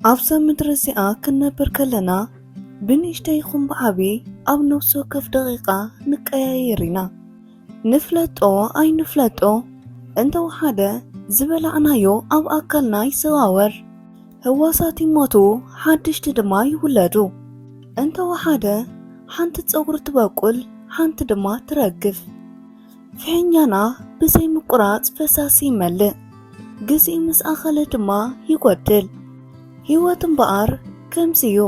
ኣብዛ ምድሪ እዚኣ ክንነብር ከለና ብንእሽተ ይኹን ብዓቢ ኣብ ነፍሲ ወከፍ ደቂቓ ንቀያየር ኢና ንፍለጦ ኣይንፍለጦ እንተወሓደ ዝበላዕናዮ ኣብ ኣካልና ይዘዋወር ህዋሳት ይሞቱ፣ ሓድሽቲ ድማ ይውለዱ። እንተ ወሓደ ሓንቲ ጸጉሪ ትበቁል፣ ሓንቲ ድማ ትረግፍ። ፍሒኛና ብዘይ ምቁራጽ ፈሳሲ ይመልእ፣ ግዜ ምስ ኣኸለ ድማ ይጎድል። ህይወት እምበኣር ከምዚ እዩ።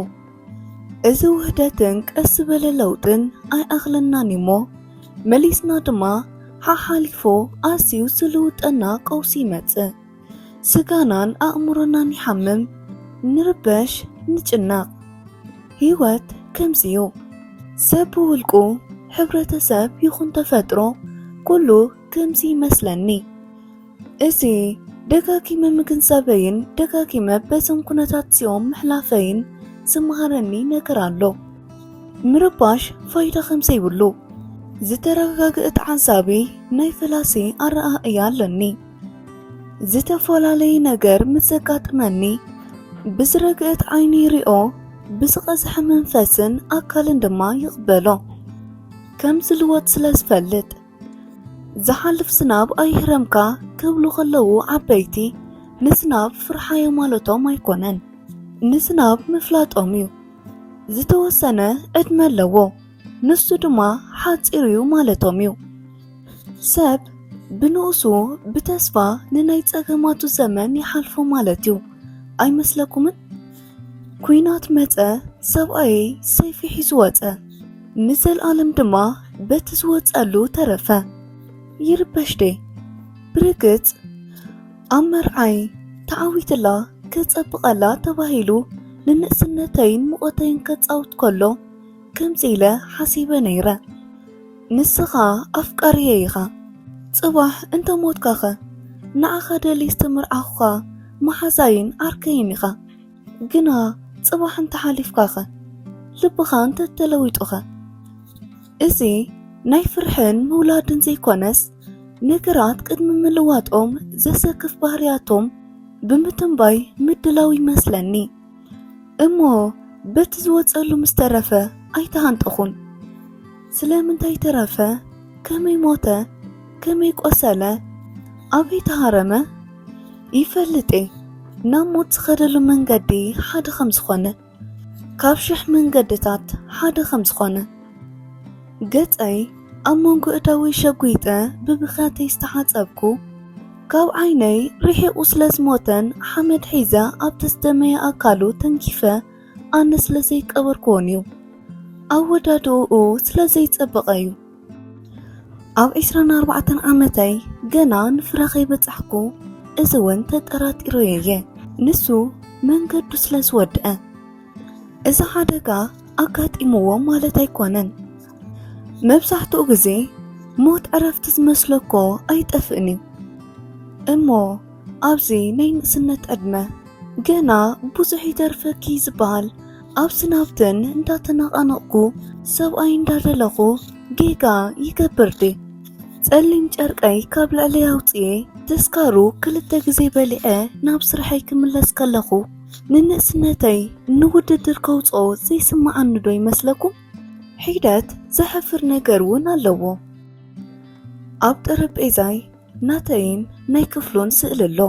እዚ ውህደትን ቀስ ዝበለ ለውጥን ኣይኣኽለናን እዩሞ መሊስና ድማ ሓሓሊፉ ኣዝዩ ዝልውጠና ቀውሲ ይመጽእ። ስጋናን ኣእምሮናን ይሓምም፣ ንርበሽ፣ ንጭነቕ። ህይወት ከምዚ'ዩ። ሰብ ብውልቁ፣ ሕብረተሰብ ይኹን ተፈጥሮ ኩሉ ከምዚ ይመስለኒ። እዚ ደጋጊመ ምግንዛበይን ደጋጊመ በዞም ኩነታት'ዚኦም ምሕላፈይን ዝመሃረኒ ነገር ኣሎ። ምርባሽ ፋይዳ ከምዘይብሉ ዝተረጋገኣ ተዓዛቢ ናይ ፈላሲ ኣረኣእያ ኣለኒ። ዝተፈላለየ ነገር ምስ ዘጋጥመኒ ብዝረግእት ዓይኒ ይሪኦ፣ ብዝቐዝሐ መንፈስን ኣካልን ድማ ይቕበሎ። ከም ዝልወጥ ስለ ዝፈልጥ ዝሓልፍ ዝናብ ኣይህረምካ ክብሉ ከለዉ ዓበይቲ ንዝናብ ፍርሓዮ ማለቶም ኣይኮነን፣ ንዝናብ ምፍላጦም እዩ። ዝተወሰነ ዕድመ ኣለዎ። ንሱ ድማ ሓጺር እዩ ማለቶም እዩ። ሰብ ብንኡሱ ብተስፋ ንናይ ጸገማቱ ዘመን ይሓልፎ ማለት እዩ ኣይመስለኩምን? ኩናት መጸ፣ ሰብኣየ ሰይፊ ሒዙ ወጸ፣ ንዘልኣለም ድማ በቲ ዝወጸሉ ተረፈ። ይርበሽ ዴ ብርግጽ ኣብ መርዓይ ተዓዊትላ ከጸብቐላ ተባሂሉ ንንእስነተይን ሙቐተይን ከጻውት ከሎ ከምዚ ኢለ ሓሲበ ነይረ ንስኻ ኣፍቃሪየ ኢኻ ጽባሕ እንተ ሞትካኸ ንዓኻ ደሊ ዝተመርዓኹኻ መሓዛይን ዓርከይን ኢኻ ግና ጽባሕ እንተ ሓሊፍካኸ ልብኻ እንተ ተለዊጡኸ እዚ ናይ ፍርሕን ምውላድን ዘይኮነስ ነገራት ቅድሚ ምልዋጦም ዘሰክፍ ባህርያቶም ብምትንባይ ምድላው ይመስለኒ። እሞ በቲ ዝወጸሉ ምስ ተረፈ ኣይተሃንጠኹን። ስለምንታይ ተረፈ? ከመይ ሞተ? ከመይ ቆሰለ? ኣበይ ተሃረመ? ይፈልጥ ናብ ሞት ዝኸደሉ መንገዲ ሓደ ከም ዝኾነ ካብ ሽሕ መንገድታት ሓደ ከም ዝኾነ ገጸይ ኣብ መንጎ እዳወይ ሸጒጠ ብብኽያተይ ዝተሓጸብኩ ካብ ዓይነይ ርሒቑ ስለ ዝሞተን ሓመድ ሒዘ ኣብቲ ዝደመየ ኣካሉ ተንኪፈ ኣነ ስለ ዘይቀበርክዎን እዩ። ኣወዳድእኡ ስለ ዘይጸበቐ እዩ። ኣብ ዒስራን ኣርባዕተን ዓመተይ ገና ንፍረ ከይበጻሕኩ እዚ እውን ተጠራጢረዮ እየ። ንሱ መንገዱ ስለ ዝወድአ እዚ ሓደጋ ኣጋጢምዎ ማለት ኣይኮነን። መብዛሕትኡ ግዜ ሞት ዕረፍቲ ዝመስሎ እኮ ኣይጠፍእን እዩ እሞ ኣብዚ ናይ ንእስነት ዕድመ ገና ብዙሕ ይተርፈኪ ዝበሃል ኣብዚ ናብትን እንዳተናቓነቕኩ ሰብኣይ እንዳደለኹ ጌጋ ይገብር ድየ ጸሊም ጨርቀይ ካብ ልዕሊ ኣውፅኤ ተስካሩ ክልተ ግዜ በሊዐ ናብ ስርሐይ ክምለስ ከለኹ ንንእስነተይ ንውድድር ከውፅኦ ዘይስምዓኒ ዶ ይመስለኩም? ሒደት ዘሕፍር ነገር እውን ኣለዎ። ኣብ ጠረጴዛይ ናተይን ናይ ክፍሉን ስእሊ ኣሎ።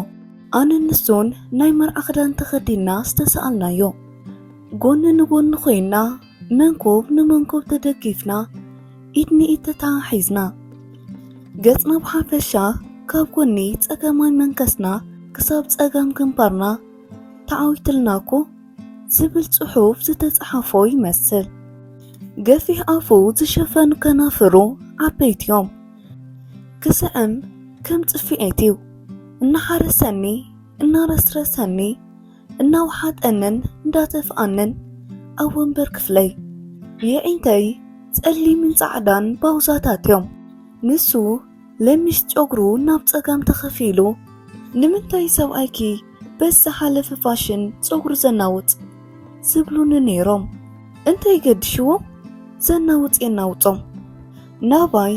ኣነ ንሱን ናይ መርዓ ክዳን ተኸዲና ዝተሰኣልናዮ ጎኒ ንጎኒ ኮይና መንኮብ ንመንኮብ ተደጊፍና ኢድ ንኢድ ተተሓሒዝና ገጽና ብሓፈሻ ካብ ጎኒ ጸገማይ መንከስና ክሳብ ጸጋም ግንባርና ተዓዊትልና እኮ ዝብል ጽሑፍ ዝተጻሓፎ ይመስል። ገፊሕ ኣፉ ዝሸፈኑ ከናፍሩ ዓበይቲ እዮም። ክስዕም ከም ጽፍዒት እዩ። እናሓረሰኒ እናረስረሰኒ እናውሓጠንን እንዳተፍኣንን ኣብ ወንበር ክፍለይ የዒንተይ ጸሊምን ጻዕዳን ባውዛታት እዮም። ንሱ ለሚስ ጨጉሩ ናብ ጸጋም ተኸፊሉ ንምንታይ ሰብኣይኪ በዚ ዝሓለፈ ፋሽን ጸጉሩ ዘናውጽ ዝብሉኒ ነይሮም እንታይ ገድሽዎም ዘናውጽ የናውጾም ናባይ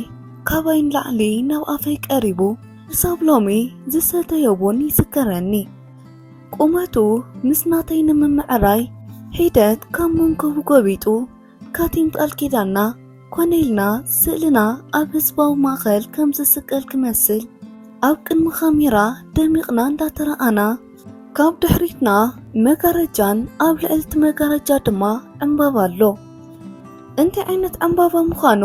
ካባይ ንላዕሊ ናብ ኣፈይ ቀሪቡ ክሳብ ሎሚ ዝሰተዮ ቡን ይዝከረኒ ቁመቱ ምስ ናተይ ንምምዕራይ ሒደት ካብ መንከቡ ጎቢጡ ካቲም ቃል ኪዳንና ኮነ ኢልና ስእልና ኣብ ህዝባዊ ማእኸል ከም ዝስቀል ክመስል ኣብ ቅድሚ ካሜራ ደሚቕና እንዳተረኣና ካብ ድሕሪትና መጋረጃን ኣብ ልዕልቲ መጋረጃ ድማ ዕምባባ ኣሎ እንታይ ዓይነት ዕምባባ ምዃኑ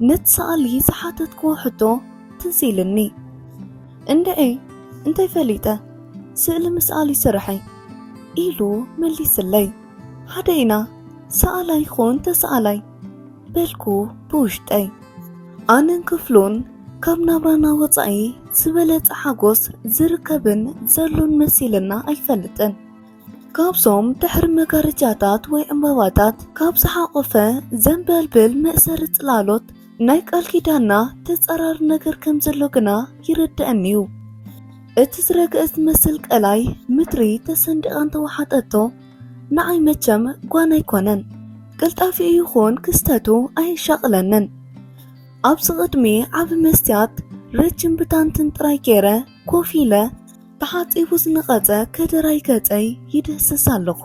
ነቲ ሰኣሊ ዝሓተትክዎ ሕቶ ትዝ ኢልኒ እንድዒ እንታይ ፈሊጠ ስእሊ ምስኣሊ ስርሐይ ኢሉ መሊስለይ ሃደይና ሰኣላይ ኾን ተሰኣላይ በልኩ ብውሽጠይ ኣነን ክፍሉን ካብ ናብራና ወፃኢ ዝበለፀ ሓጎስ ዝርከብን ዘሎን መሲልና ኣይፈልጥን። ካብዞም ድሕሪ መጋረጃታት ወይ ዕምባባታት ካብ ዝሓቖፈ ዘንበልብል መእሰሪ ጽላሎት ናይ ቃል ኪዳንና ተጻራሪ ነገር ከም ዘሎ ግና ይርድኣኒ እዩ። እቲ ዝረግአ ዝመስል ቀላይ ምድሪ ተሰንዲቓ እንተወሓጠቶ ንዓይ መቸም ጓን ኣይኮነን። ቅልጣፊኡ ይኹን ክስተቱ ኣየሻቕለንን። ኣብዚ ቅድሚ ዓቢ መስትያት ረጅም ብታንትን ጥራይ ገይረ ኮፍ ኢለ ተሓጺቡ ዝነቐጸ ከደራይ ገጸይ ይድህስስ ኣለኹ።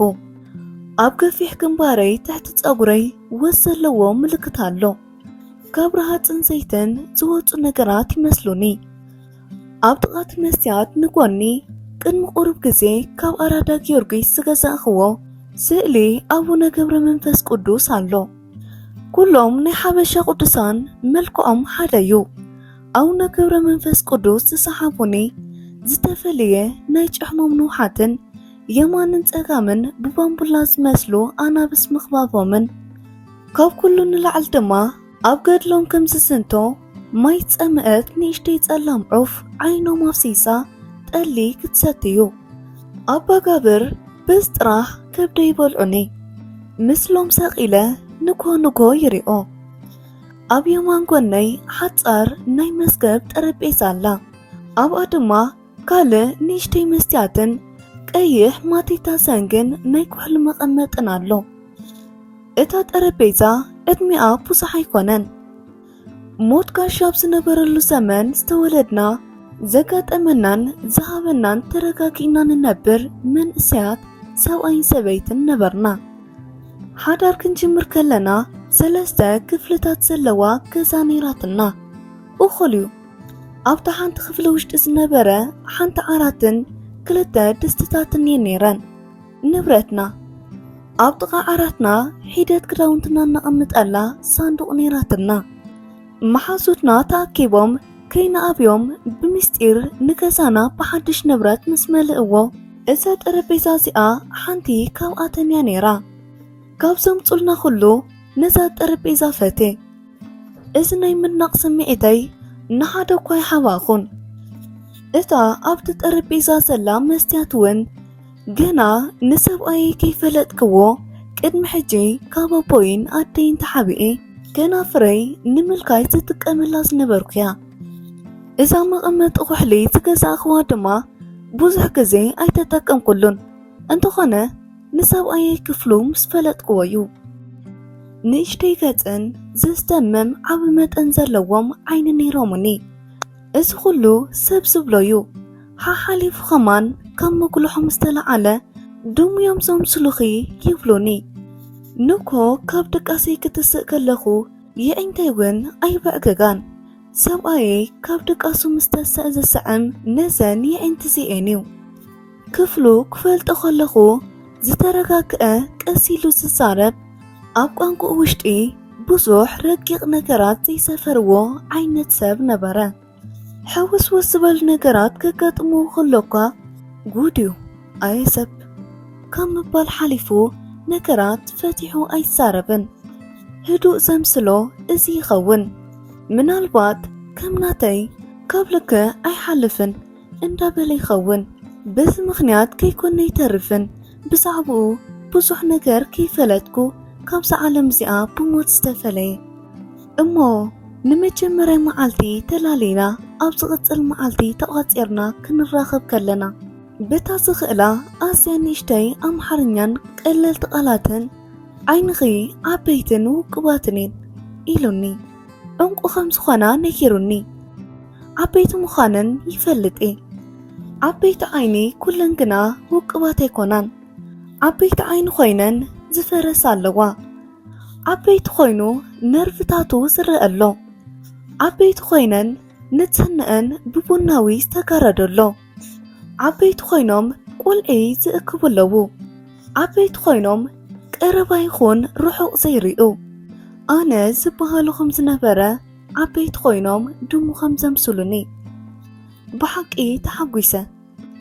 ኣብ ገፊሕ ግንባረይ ትሕቲ ጸጉረይ ወዝ ዘለዎ ምልክት ኣሎ። ካብ ረሃጽን ዘይትን ዝወጹ ነገራት ይመስሉኒ። ኣብ ጥቓት መስትያት ንጎኒ ቅድሚ ቁሩብ ግዜ ካብ ኣራዳ ጊዮርጊስ ዝገዛእኽዎ ስእሊ ኣቡነ ገብረ መንፈስ ቅዱስ ኣሎ። ኩሎም ናይ ሓበሻ ቅዱሳን መልክዖም ሓደ እዩ። ኣውነ ክብረ መንፈስ ቅዱስ ዝሰሓቡኒ ዝተፈለየ ናይ ጭሕሞም ንውሓትን የማንን ጸጋምን ብባምቡላ ዝመስሉ ኣናብስ ምኽባቦምን ካብ ኩሉ ንላዕሊ ድማ ኣብ ገድሎም ከም ዝዝንቶ ማይ ጸምአት ንእሽተይ ጸላም ዑፍ ዓይኖም ኣፍሲሳ ጠሊ ክትሰትዩ ኣባ ጋብር በዝ ጥራሕ ከብደ ይበልዑኒ ምስሎም ሰቒለ ንኮ ንኮ ይሪኦ ኣብ የማን ጎነይ ሓጻር ናይ መዝገብ ጠረጴዛ ኣላ ኣብኣ ድማ ካልእ ንእሽተይ መስትያትን ቀይሕ ማቴታ ሰንግን ናይ ኩሕሊ መቐመጥን ኣሎ እታ ጠረጴዛ ዕድሜኣ ብዙሕ ኣይኮነን ሞት ጋሻ ኣብ ዝነበረሉ ዘመን ዝተወለድና ዘጋጠመናን ዝሃበናን ተረጋጊእና ንነብር መንእሰያት ሰብኣይን ሰበይትን ነበርና። ሓዳር ክንጅምር ከለና ሰለስተ ክፍልታት ዘለዋ ገዛ ነይራትና። እኹል እዩ። ኣብታ ሓንቲ ክፍሊ ውሽጢ ዝነበረ ሓንቲ ዓራትን ክልተ ድስትታትን እየን ነይረን። ንብረትና ኣብ ጥቓ ዓራትና ሒደት ክዳውንትና እናቐምጠላ ሳንዱቕ ነይራትና። መሓዙትና ተኣኪቦም ከይንኣብዮም ብምስጢር ንገዛና ብሓድሽ ንብረት ምስ መልእዎ እዛ ጠረጴዛ እዚኣ ሓንቲ ካብኣተን እያ ነይራ። ካብ ዘምፁልና ኩሉ ነዛ ጠረጴዛ ፈቴ። እዚ ናይ ምድናቕ ስምዒተይ ንሓደ እኳ ኣይሓባእኹን። እታ ኣብቲ ጠረጴዛ ዘላ መስትያት እውን ገና ንሰብኣየይ ከይፈለጥክዎ ቅድሚ ሕጂ ካብ ኣቦይን ኣደይን ተሓቢኤ ከናፍረይ ንምልካይ ዝጥቀመላ ዝነበርኩያ እዛ መቐመጢ ኩሕሊ ዝገዛእኽዋ ድማ ብዙሕ ግዜ ኣይተጠቀምኩሉን እንተኾነ ንሰብኣየ ክፍሉ ምስ ፈለጥክዎ እዩ ንእሽተይ ገፅን ዘስደምም ዓብ መጠን ዘለዎም ዓይኒ ነይሮምኒ እዚ ኩሉ ሰብ ዝብሎ እዩ ሓሓሊፉ ኸማን ካብ ምጉልሖም ዝተለዓለ ድሙዮም ዘምስሉኺ ይብሉኒ። ንኮ ካብ ድቃሰይ ክትስእ ከለኹ የዒንተይ ውን ኣይበዕግጋን። ሰብኣየይ ካብ ድቃሱ ምስ ተሰእ ዝስዕም ነዘን የዒንቲ ዚኤን እዩ። ክፍሉ ክፈልጦ ከለኹ ዝተረጋግኣ ቀስ ኢሉ ዝዛረብ ኣብ ቋንቁኡ ውሽጢ ብዙሕ ረቂቕ ነገራት ዘይሰፈርዎ ዓይነት ሰብ ነበረ። ሕውስውስ ዝበሉ ነገራት ከጋጥሙ ከሎኳ ጉድ እዩ ኣየ ሰብ ካብ ምባል ሓሊፉ ነገራት ፈቲሑ ኣይዛረብን። ህዱእ ዘምስሎ እዚ ይኸውን። ምናልባት ከም ናተይ ካብ ልክ ኣይሓልፍን እንዳበለ ይኸውን። በዚ ምኽንያት ከይኮነ ይተርፍን ብዛዕባኡ ብዙሕ ነገር ከይፈለጥኩ ካብዛ ዓለም እዚኣ ብሞት ዝተፈለየ እሞ ንመጀመርያ መዓልቲ ተላሊና ኣብ ዝቕጽል መዓልቲ ተቛጺርና ክንራኸብ ከለና በታ ዝኽእላ ኣዝያ ንእሽተይ ኣምሓርኛን ቀለልቲ ቃላትን ዓይንኺ ዓበይትን ውቁባትን እየን ኢሉኒ ዕንቁ ከም ዝኾና ነጊሩኒ ዓበይቲ ምዃነን ይፈልጥ እየ ዓበይቲ ዓይኒ ኩለን ግና ውቁባት ኣይኮናን ዓበይቲ ዓይኒ ኮይነን ዝፈረሳ ኣለዋ ዓበይቲ ኮይኑ ነርቭታቱ ዝረአ ኣሎ። ዓበይቲ ኮይነን ንጽህንአን ብቡናዊ ዝተጋረደ ኣሎ። ዓበይቲ ኮይኖም ቁልዒ ዝእክቡ ኣለዉ። ዓበይቲ ኮይኖም ቀረባ ይኹን ርሑቕ ዘይርኡ ኣነ ዝበሃሉ ከም ዝነበረ ዓበይቲ ኮይኖም ድሙ ከም ዘምስሉኒ ብሓቂ ተሓጒሰ።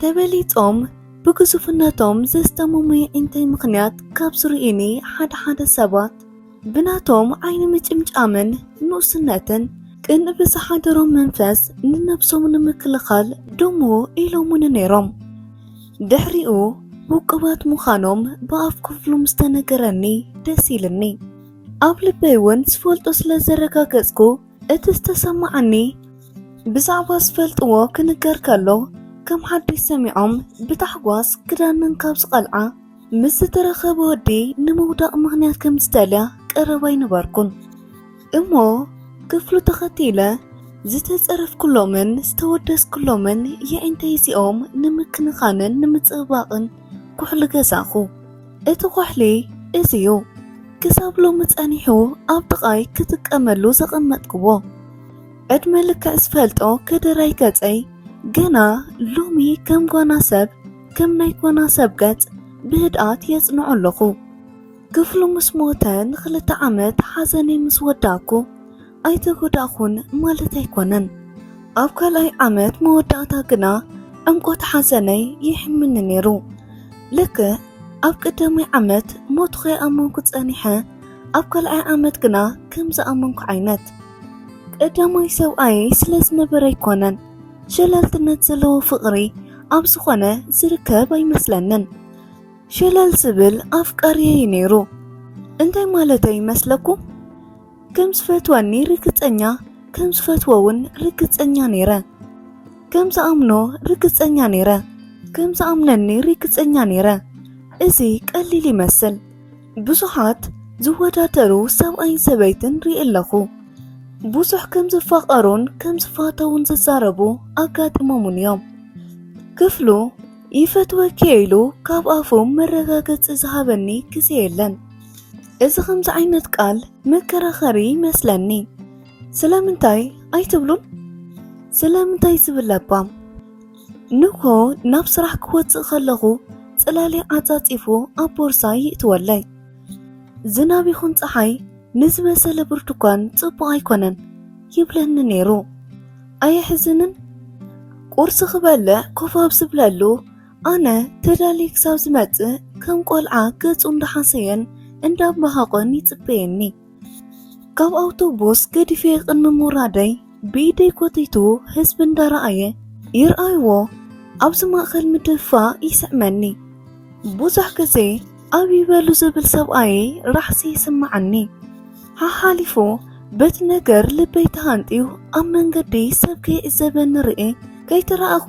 ተበሊጾም ብግዙፍነቶም ዘስተምሙይ እንታይ ምኽንያት ካብ ዝርእዩኒ ሓደ ሓደ ሰባት ብናቶም ዓይኒ ምጭምጫምን ንኡስነትን ቅን ብዝሓደሮም መንፈስ ንነብሶም ንምክልኻል ድሙ ኢሎሙኒ ነይሮም ድሕሪኡ ውቅባት ምዃኖም ብኣፍ ክፍሉም ዝተነገረኒ ደስ ኢልኒ ኣብ ልበይ እውን ዝፈልጦ ስለ ዘረጋገጽኩ እቲ ዝተሰማዓኒ ብዛዕባ ዝፈልጥዎ ክንገር ከሎ ከም ሓድሽ ሰሚዖም ብታሕጓስ ክዳንን ካብ ዝቐልዓ ምስ ዝተረኸበ ወዲ ንምውዳቕ ምኽንያት ከም ዝደልያ ቀረባ ኣይነበርኩን እሞ ክፍሉ ተኸቲለ ዝተጸረፍኩሎምን ዝተወደስኩሎምን የዒንተይ እዚኦም ንምክንኻንን ንምጽብባቕን ኩሕሊ ገዛኹ። እቲ ኩሕሊ እዚዩ ክሳብ ሎሚ ጸኒሑ ኣብ ጥቓይ ክጥቀመሉ ዘቐመጥክዎ ዕድመ ልክዕ ዝፈልጦ ከደራይ ገጸይ ገና ሎሚ ከም ጓና ሰብ ከም ናይ ጓና ሰብ ገጽ ብህድኣት የጽንዖ ኣለኹ ክፍሉ ምስ ሞተ ንክልተ ዓመት ሓዘነይ ምስ ወዳእኩ ኣይተጎዳእኹን ማለት ኣይኮነን። ኣብ ካልኣይ ዓመት መወዳእታ ግና ዕምቆት ሓዘነይ ይሕምኒ ነይሩ። ልክዕ ኣብ ቀዳማይ ዓመት ሞቱ ከይኣመንኩ ጸኒሐ፣ ኣብ ካልኣይ ዓመት ግና ከም ዝኣመንኩ ዓይነት። ቀዳማይ ሰብኣየ ስለ ዝነበረ ኣይኮነን፣ ሸለልትነት ዘለዎ ፍቕሪ ኣብ ዝኾነ ዝርከብ ኣይመስለንን። ሸለል ዝብል ኣፍቃሪየይ ነይሩ። እንታይ ማለተይ ይመስለኩም? ከም ዝፈትወኒ ርግጸኛ ከም ዝፈትዎ እውን ርግጸኛ ነይረ ከም ዝኣምኖ ርግጸኛ ነይረ ከም ዝኣምነኒ ርግጸኛ ነይረ እዚ ቀሊል ይመስል ብዙሓት ዝወዳደሩ ሰብኣይን ሰበይትን ርኢ ኣለኹ ብዙሕ ከም ዝፋቐሩን ከም ዝፋተውን ዝዛረቡ ኣጋጢሞምን እዮም ክፍሉ ይፈትወኪ ኢሉ ካብ ኣፉ መረጋገፂ ዝሃበኒ ግዜ የለን እዚ ከምዚ ዓይነት ቃል መከራኸሪ ይመስለኒ። ስለምንታይ ኣይትብሉን? ስለምንታይ ዝብል ለባም ንኮ ናብ ስራሕ ክወፅእ ከለኹ ፅላሊ ዓፃፂፉ ኣብ ቦርሳ ይእትወለይ። ዝናብ ይኹን ፀሓይ ንዝበሰለ ብርቱኳን ፅቡቕ ኣይኮነን ይብለኒ ነይሩ። ኣየሕዝንን? ቁርሲ ክበልዕ ኮፍ ኣብ ዝብለሉ ኣነ ተዳልየ ክሳብ ዝመጽእ ከም ቆልዓ ገጹ እንዳሓሰየን እንዳመሃቆን ይጽበየኒ ካብ ኣውቶቡስ ገዲፌ ቅድሚ ምውራደይ ብኢደይ ኮቲቱ ህዝቢ እንዳረኣየ ይርኣይዎ ኣብዚ ማእኸል ምድፍፋእ ይስዕመኒ ብዙሕ ግዜ ኣብ ይበሉ ዝብል ሰብኣየይ ራሕሲ ይስምዓኒ። ሓሓሊፉ በቲ ነገር ልበይ ተሃንጥዩ ኣብ መንገዲ ሰብ ከይዕዘበኒ ርእየ ከይተራእኹ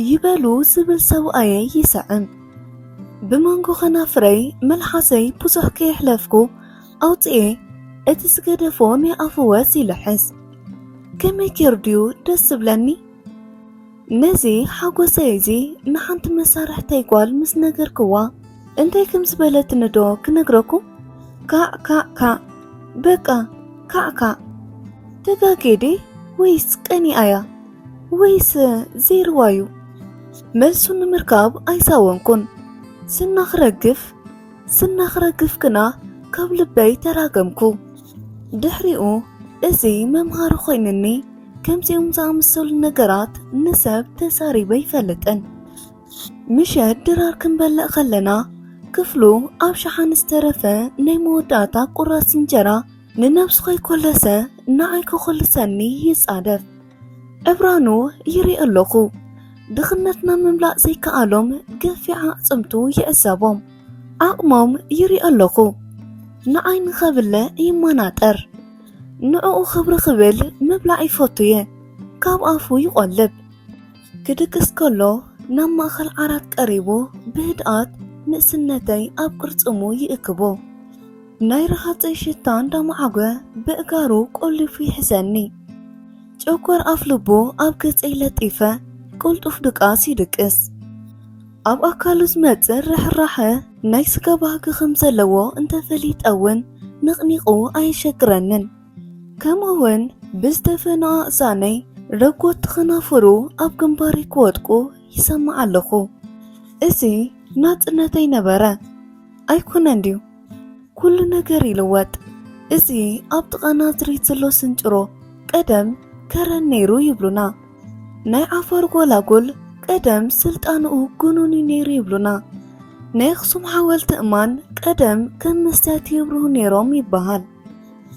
ይበሉ ዝብል ሰብኣየይ ይስዕም። ብመንጎ ከናፍረይ መልሓሰይ ብዙሕ ከየሕለፍኩ ኣውፅኤ እቲ ዝገደፎ ናይ ኣፈወዝ ይልሕስ። ከመይ ጌሩ ድዩ ደስ ዝብለኒ? ነዚ ሓጎሰይ እዚ ንሓንቲ መሳርሕተይ ጓል ምስ ነገርክዋ እንታይ ከም ዝበለትኒ ዶ ክነግረኩም? ካዕ ካዕ ካዕ በቃ ካዕ ካዕ ተጋግየ ድየ ወይስ ቀኒኣ'ያ ወይስ ዘይርዋ'ዩ መልሱ ንምርካብ ኣይሳወንኩን ስና ክረግፍ ስና ክረግፍ ግና ካብ ልበይ ተራገምኩ። ድሕሪኡ እዚ መምሃሪ ኮይኑኒ ከምዚኦም ዝኣመሰሉ ነገራት ንሰብ ተዛሪበ ኣይፈልጥን። ምሸት ድራር ክንበልዕ ከለና ክፍሉ ኣብ ሸሓኒ ዝተረፈ ናይ መወዳእታ ቁራስ እንጀራ ንነብሱ ከይኮለሰ ንዓይ ከኮልሰኒ ይጻደፍ። ዕብራኑ ይሪኦ ኣለኹ። ድኽነትና ምምላእ ዘይከኣሎም ገፊዕ ኣዕጽምቱ ይዕዘቦም። ዓቕሞም ይሪኦ ኣለኹ። ንዓይ ንኸብልዕ ይመናጠር። ንዕኡ ክብሪ ክብል ምብላዕ ይፈቱ እየ ካብ ኣፉ ይቆልብ ክድቅስ ከሎ ናብ ማእኸል ዓራት ቀሪቡ ብህድኣት ንእስነተይ ኣብ ቅርጽሙ ይእክቦ ናይ ረሃፀይ ሽታ እንዳመዓጐ በእጋሩ ቆሊፉ ይሕዘኒ ጨጓር ኣፍልቦ ኣብ ገጸይ ለጢፈ ቁልጡፍ ድቃስ ይድቅስ። ኣብ ኣካሉ ዝመጽእ ርሕራሐ ናይ ስጋ ባህጊ ከም ዘለዎ እንተ ፈሊጠ እውን ነቕኒቑ ኣየሸግረንን። ከምኡውን ብዝደፈኑ ኣእዛነይ ረጎድቲ ከናፍሩ ኣብ ግንባረይ ክወድቁ ይሰምዕ ኣለኹ። እዚ ናጽነተይ ነበረ ኣይኮነን ድዩ? ኩሉ ነገር ይልወጥ። እዚ ኣብ ጥቓ ናዝሬት ዘሎ ስንጭሮ ቀደም ከረን ነይሩ ይብሉና። ናይ ዓፋር ጎላጉል ቀደም ስልጣንኡ ጉኑን እዩ ነይሩ ይብሉና። ናይ ኣኽሱም ሓወልቲ እማን ቀደም ከም መስትያት የብርሁ ነይሮም ይበሃል።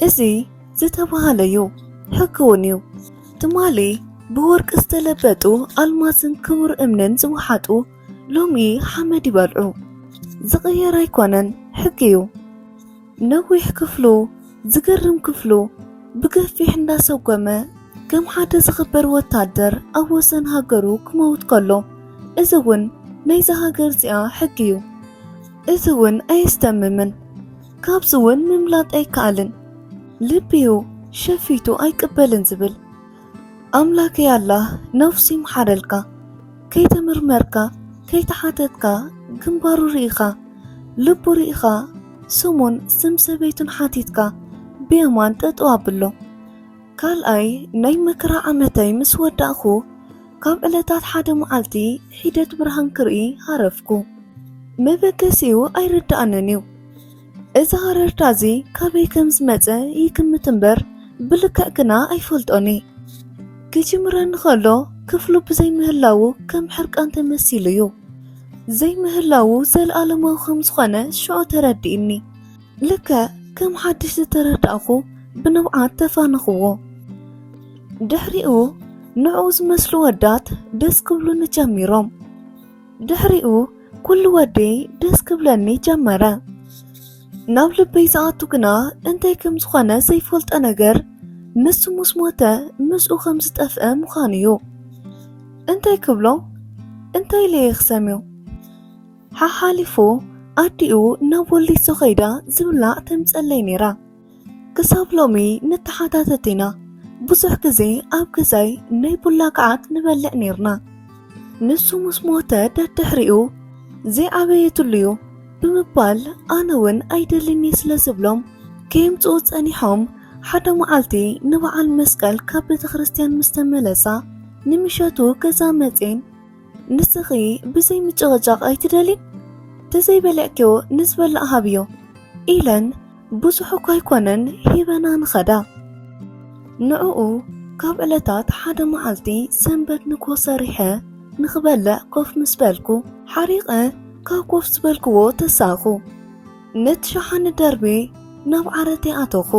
እዚ ዝተበሃለ እዩ፣ ሕጊ እውን እዩ። ትማሊ ብወርቂ ዝተለበጡ ኣልማዝን ክቡር እምንን ዝወሓጡ ሎሚ ሓመድ ይበልዑ ዝቅየር ኣይኮነን ሕጊ እዩ ነዊሕ ክፍሉ ዝገርም ክፍሉ ብገፊሕ እንዳሰጎመ ከም ሓደ ዝኽበር ወታደር ኣብ ወሰን ሃገሩ ክመውት ከሎ እዚ እውን ናይዛ ሃገር እዚኣ ሕጊ እዩ እዚ እውን ኣየስተምምን ካብዚ እውን ምምላጥ ኣይከኣልን ልቢ እዩ ሸፊቱ ኣይቅበልን ዝብል ኣምላከይ ኣላህ ነብሱ ይምሓረልካ ከይተመርመርካ ከይተሓተትካ ግንባሩ ርኢኻ ልቡ ርኢኻ ስሙን ስም ሰበይቱን ሓቲትካ ብየማን ጠጠው ኣብሎ ካልኣይ ናይ መከራ ዓመተይ ምስ ወዳእኹ ካብ ዕለታት ሓደ መዓልቲ ሒደት ብርሃን ክርኢ ሃረፍኩ መበገሲኡ ኣይርድኣንን እዩ እዚ ሃረርታ እዚ ካበይ ከም ዝመጸ ይግምት እምበር ብልክዕ ግና ኣይፈልጦን እየ። ክጅምረኒ ከሎ ክፍሉ ብዘይምህላዉ ከም ሕርቃን ተመሲሉ እዩ። ዘይምህላዉ ዘለኣለማዊ ከም ዝኾነ ሽዑ ተረዲእኒ። ልክዕ ከም ሓድሽ ዝተረዳእኹ ብንብዓት ተፋነኽዎ። ድሕሪኡ ንዕኡ ዝመስሉ ወዳት ደስ ክብሉኒ ጀሚሮም። ድሕሪኡ ኩሉ ወደይ ደስ ክብለኒ ጀመረ ናብ ልበይ ዝኣቱ ግና እንታይ ከም ዝኾነ ዘይፈልጦ ነገር ንሱ ምስ ሞተ ምስኡ ከም ዝጠፍአ ምዃኑ እዩ እንታይ ክብሎ እንታይ ለየ ክሰምዮ ሓሓሊፉ ኣዲኡ ናብ ወሊሶ ኸይዳ ዝብላዕ ተምፀለይ ነይራ ክሳብ ሎሚ ንተሓታተት ኢና ብዙሕ ግዜ ኣብ ግዛይ ናይ ቡላ ከዓት ንበልዕ ነርና ንሱ ምስ ሞተ ደድሕሪኡ ዘይዓበየትሉ እዩ ብምባል ኣነ እውን ኣይደልኒ ስለ ዝብሎም ከየምፅኡ ጸኒሖም ሓደ መዓልቲ ንበዓል መስቀል ካብ ቤተ ክርስትያን ምስ ተመለሳ ንምሸቱ ገዛ መፅን ንስኺ ብዘይ ምጭቕጫቕ ኣይትደልይ ተዘይበልዕኪዮ ንዝበላእ ሃብዮ ኢለን ብዙሕ እኳ ኣይኮነን ሂበና ንኸዳ። ንዕኡ ካብ ዕለታት ሓደ መዓልቲ ሰንበት ንግሆ ሰሪሐ ንኽበልዕ ኮፍ ምስ በልኩ ሓሪቐ ካብ ኮፍ ዝበልክዎ ተሳኹ ነቲ ሸሓኒ ደርቢ ናብ ዓረተይ ኣተኹ።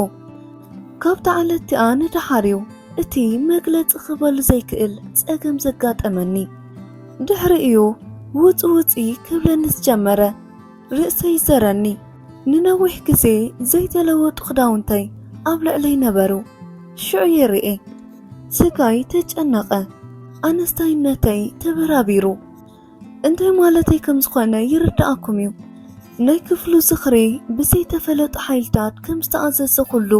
ካብታ ዕለት'ቲኣ ንደሓር'ዩ እቲ መግለጺ ክበሉ ዘይክእል ጸገም ዘጋጠመኒ። ድሕሪኡ'ዩ ውጽ ውጽ ክብለኒ ዝጀመረ። ርእሰይ ይዘረኒ። ንነዊሕ ግዜ ዘይተለወጡ ክዳውንተይ ኣብ ልዕለይ ነበሩ። ሽዑ ይርኤ። ስጋይ ተጨነቐ። ኣነስታይነተይ ተበራቢሩ። እንታይ ማለተይ ከም ዝኾነ ይርድኣኩም እዩ። ናይ ክፍሉ ዝኽሪ ብዘይተፈለጡ ሓይልታት ከም ዝተኣዘዘኹሉ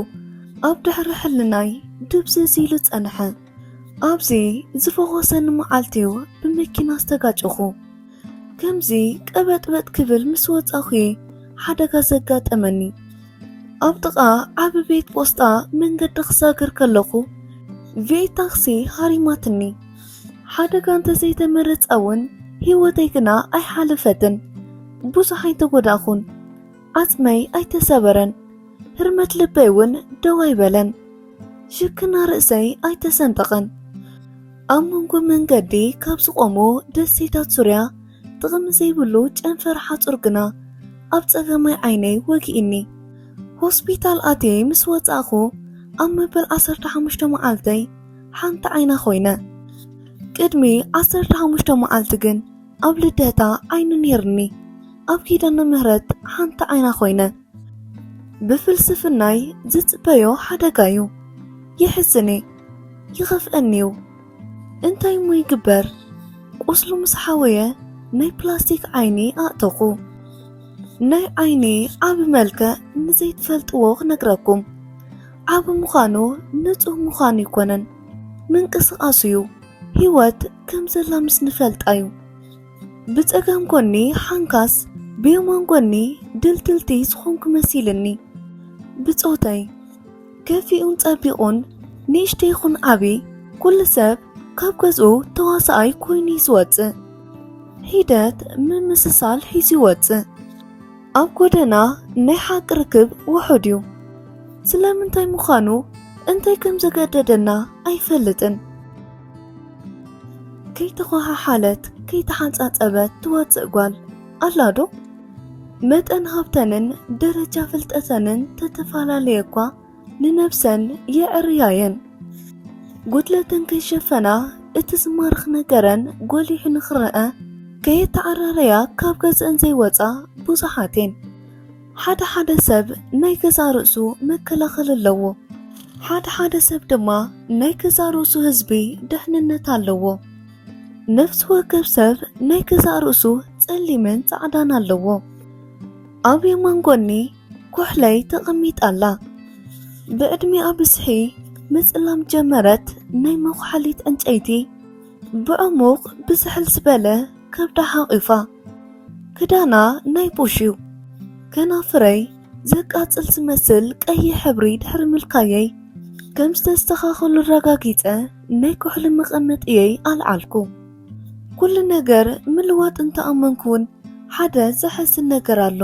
ኣብ ድሕሪ ሕልናይ ድብዝዝ ኢሉ ጸንሐ። ኣብዚ ዝፈኾሰኒ መዓልቲ'ዩ ብመኪና ዝተጋጨኹ። ከምዚ ቀበጥበጥ ክብል ምስ ወጻኺ ሓደጋ ዘጋጠመኒ ኣብ ጥቓ ዓብ ቤት ጶስጣ መንገዲ ክሳግር ከለኹ ቪኤት ታክሲ ሃሪማትኒ ሓደጋ እንተዘይተመረጻ እውን ህይወተይ ግና ኣይሓለፈትን ብዙሕ ኣይተጎዳእኹን ዓጽመይ ኣይተሰበረን ህርመት ልበይ እውን ደው ኣይበለን ሽክና ርእሰይ ኣይተሰንጠቐን ኣብ መንጎ መንገዲ ካብ ዝቖሙ ደሴታት ሱርያ ጥቕሚ ዘይብሉ ጨንፈር ሓጹር ግና ኣብ ጸገማይ ዓይነይ ወጊእኒ ሆስፒታል ኣትየ ምስ ወጻእኹ ኣብ መበል 15 መዓልተይ ሓንቲ ዓይና ኮይነ ቅድሚ 15 መዓልቲ ግን ኣብ ልደታ ዓይኒ ነይርኒ ኣብ ኪዳነ ምህረት ሓንቲ ዓይና ኮይነ ብፍልስፍናይ ዝፅበዮ ሓደጋ እዩ ይሕዝኒ ይኸፍአኒ እዩ እንታይ እሞ ይግበር ቁስሉ ምስ ሓወየ ናይ ፕላስቲክ ዓይኒ ኣእተኹ ናይ ዓይኒ ዓብ መልክዕ ንዘይትፈልጥዎ ክነግረኩም ዓብ ምዃኑ ንፁህ ምዃኑ ኣይኮነን ምንቅስቃሱ እዩ ህይወት ከም ዘላ ምስ ንፈልጣ እዩ። ብጸጋም ጎኒ ሓንካስ ብየማን ጎኒ ድልድልቲ ዝኾንኩ መሲልኒ። ብጾተይ ከፊኡን ጸቢቑን ንእሽተ ይኹን ዓብዪ ኩሉ ሰብ ካብ ገዝኡ ተዋሳኣይ ኮይኑ እዩ ዝወጽእ። ሒደት ምምስሳል ሒዙ ይወጽእ። ኣብ ጎደና ናይ ሓቂ ርክብ ውሑድ እዩ። ስለምንታይ ምዃኑ እንታይ ከም ዘገደደና ኣይፈልጥን። ከይተኾሓሓለት ከይተሓንጻጸበት ትወጽእ ጓል ኣላዶ? መጠን ሃብተንን ደረጃ ፍልጠተንን ተተፈላለየ እኳ ንነብሰን የዕርያየን። ጉድለተን ከይሸፈና እቲ ዝማርኽ ነገረን ጎሊሑ ንኽረኣ ከየተዓራረያ ካብ ገዝእን ዘይወጻ ብዙሓት እየን። ሓደ ሓደ ሰብ ናይ ገዛእ ርእሱ መከላኸሊ ኣለዎ። ሓደ ሓደ ሰብ ድማ ናይ ገዛእ ርእሱ ህዝቢ ደሕንነት ኣለዎ። ነፍሲ ወከፍ ሰብ ናይ ገዛእ ርእሱ ጸሊምን ጻዕዳን ኣለዎ። ኣብ የማን ጎኒ ኩሕለይ ተቐሚጣ ኣላ። ብዕድሜኣ ብዝሒ ምጽላም ጀመረት፣ ናይ መኹሓሊት ዕንጨይቲ ብዕሙቕ ብዝሕል ዝበለ ከብዳ ሓቚፋ። ክዳና ናይ ቡሽ እዩ ከናፍረይ ዘቃጽል ዝመስል ቀይሕ ሕብሪ ድሕሪ ምልካየይ ከም ዝተስተኻኸሉ ኣረጋጊጸ ናይ ኩሕሊ መቐመጥየይ ኣልዓልኩ ኩሉ ነገር ምልዋጥ እንተኣመንኩ እውን ሓደ ዘሐዝን ነገር ኣሎ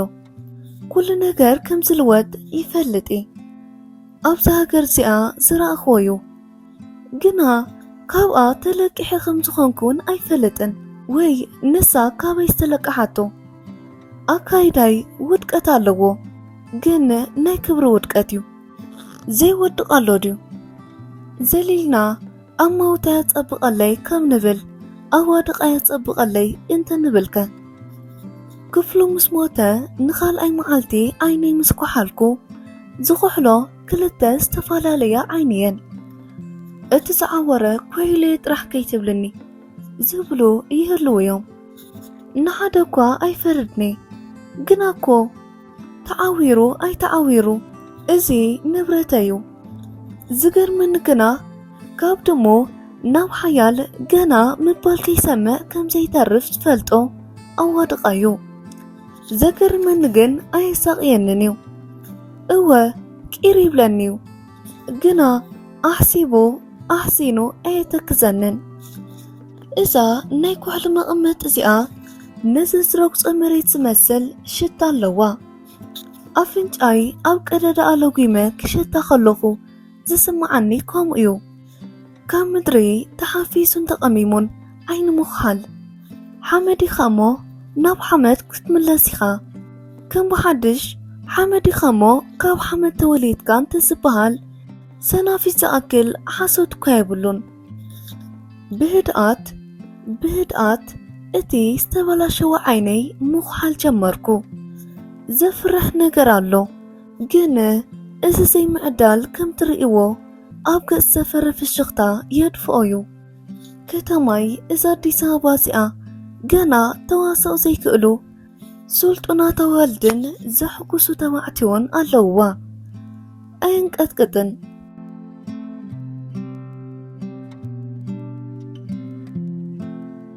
ኩሉ ነገር ከም ዝልወጥ ይፈልጥ እየ ኣብዚ ሃገር እዚኣ ዝረኣኽዎ እዩ ግና ካብኣ ተለቂሐ ከም ዝኾንኩ'ውን ኣይፈልጥን ወይ ንሳ ካበይ ዝተለቀሓቶ። ኣካይዳይ ውድቀት ኣለዎ ግን ናይ ክብሪ ውድቀት'ዩ። ዘይወድቕ ኣሎ ድዩ? ዘሊልና ኣማውታያ ጸብቐለይ ከም ንብል ኣዋድቓያ ጸብቐለይ እንተንብልከ? ክፍሉ ምስ ሞተ ንኻልኣይ መዓልቲ ዓይነይ ምስ ኳሓልኩ ዝኹሕሎ ክልተ ዝተፈላለያ ዓይኒ እየን እቲ ዝዓወረ ኮይለ ጥራሕ ከይትብልኒ ዝብሉ ይህልው እዮም ንሓደ እኳ ኣይፈርድኒ ግና እኮ ተዓዊሩ ኣይተዓዊሩ እዚ ንብረት እዩ ዝገርመኒ ግና ካብ ድሞ ናብ ሓያል ገና ምባል ከይሰምዕ ከም ዘይተርፍ ዝፈልጦ ኣዋድቓ እዩ ዘገርመኒ ግን ኣየሳቕየንን እዩ እወ ቂር ይብለኒዩ ግና ኣሕሲቡ ኣሕሲኑ ኣየተክዘንን። እዛ ናይ ኩሕሊ መቐመጢ እዚኣ ነዚ ዝረግጾ መሬት ዝመስል ሽታ ኣለዋ። ኣፍንጫይ ኣብ ቀደዳኣ ለጒመ ክሸታ ከለኹ ዝስምዓኒ ከምኡ'ዩ። ካብ ምድሪ ተሓፊሱን ተቐሚሙን ዓይኒ ምዃል ሓመድ ኢኻ እሞ ናብ ሓመድ ክትምለስ ኢኻ ከም ብሓድሽ ሓመድ ኢኻ እሞ ካብ ሓመድ ተወሊድካ እንተዝበሃል ሰናፊት ዝኣክል ሓሶት እኳ የብሉን ብህድኣት ብህድኣት እቲ ዝተበላሸወ ዓይነይ ምዃል ጀመርኩ። ዘፍርሕ ነገር ኣሎ፣ ግን እዚ ዘይምዕዳል ከም ትርእይዎ ኣብ ገጽ ሰፈረ ፍሽኽታ የድፍኦ እዩ ከተማይ እዛ ኣዲስ ኣበባ እዚኣ ገና ተዋሳኦ ዘይክእሉ ስልጡናት ኣዋልድን ዘሕጉሱ ተባዕትዮን ኣለውዋ ኣየንቀጥቅጥን